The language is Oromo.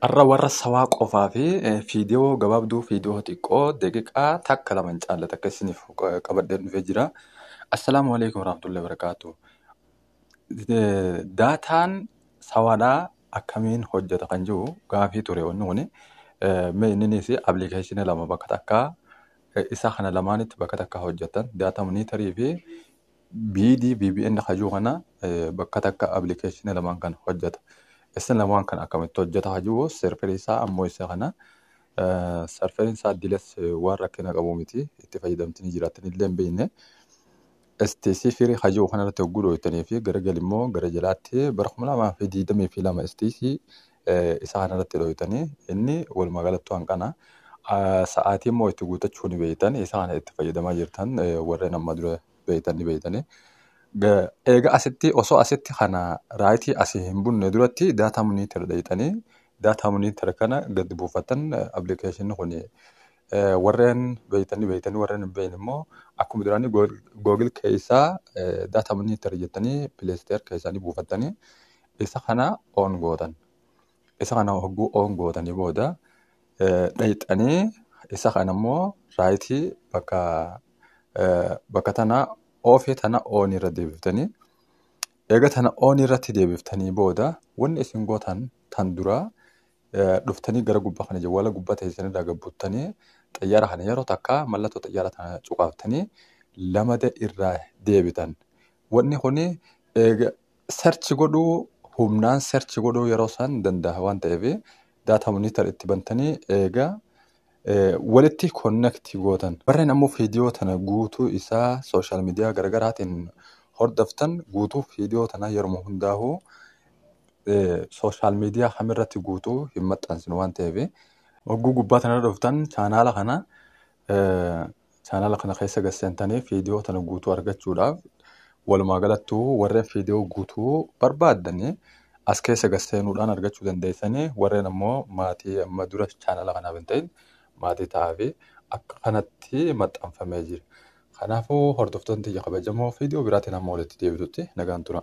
Har'a warra sawaa qofaa fi fiidiyoo gabaabduu fiidiyoo xiqqoo daqiiqaa takka lama hin caalle takka isiniif qabadheen dhufee jira. Assalaamu alaikum warahmatullahi wabarakaatu. Daataan sawaadhaa akkamiin hojjeta kan jiru gaafii ture wanni kuni. Mee inninis appilikeeshinii lama bakka takkaa isa kana lamaanitti bakka takkaa hojjetan daataa moniitarii fi BD VPN hajuu kana bakka takka application lamaan kan hojjeta. Isin lamaan kan akkamitti hojjeta hajuu serverii isaa ammoo isa kana serverii isaa diles waan rakkina qabu miti itti fayyadamtini jiraattan illee hin beekne. STC firii hajuu kanarratti hogguu dooytanii fi gara galimmoo gara jalaatti bara kuma lamaa fi digdamii fi lama STC isaa kana irratti dhooytanii inni walumaa galattuu hanqana sa'aatii immoo itti guutachuu ni beeytan isaa kana itti fayyadamaa jirtan warreen amma dura beeytan ni beeytanii. Eega asitti osoo asitti kana raayitii asii hin bunne duratti daataa monitor dhayxanii daataa monitor kana gad buufatan appilikeeshinni kun warreen beeytan ni beeytanii warreen hin beeyne immoo akkuma duraanii googil keessaa daataa monitor jettanii pileesteer keessaa ni buufatanii Isa kana on gootan. Isa kana hogguu on gootanii booda dhayxanii isa kana immoo raayitii bakka bakka tana oofee tana on irra deebiftanii eega tana on irratti deebiftanii booda wanni isin gootan tan duraa dhuftanii gara gubbaa kana jawwaala gubbaa teessan irraa gabbuttanii xayyaara kana yeroo takka mallattoo xayyaara tana cuqaaftanii lamada irraa deebitan. Wanni kuni eega Search godhuu humnaan search godhuu yeroo san danda'a waan ta'eef data monitor itti bantanii eega eh, walitti connect gootan. Warreen ammoo viidiyoo tana guutuu isaa social media garagaraatiin hordoftan guutuu viidiyoo tana yeruma hundaahuu eh, social media kamirratti guutuu hin maxxansinu waan ta'eef Hogguu gubbaa tanarra dhuftan chaanaala kana eh, Chaanaala kana keessa gad seentanii fiidiyoo tana guutuu argachuudhaaf walumaa galattuu warreen fiidiyoo guutuu barbaaddanii as keessa gad seenuudhaan argachuu dandeessanii warreen ammoo maatii amma dura chaanaala kanaaf hin ta'in maatii ta'aafi akka kanatti maxxanfamee jira. Kanaafuu hordoftoonni tiyya kabajamoo fiidiyoo biraatiin hamma walitti deebitutti nagaan tura.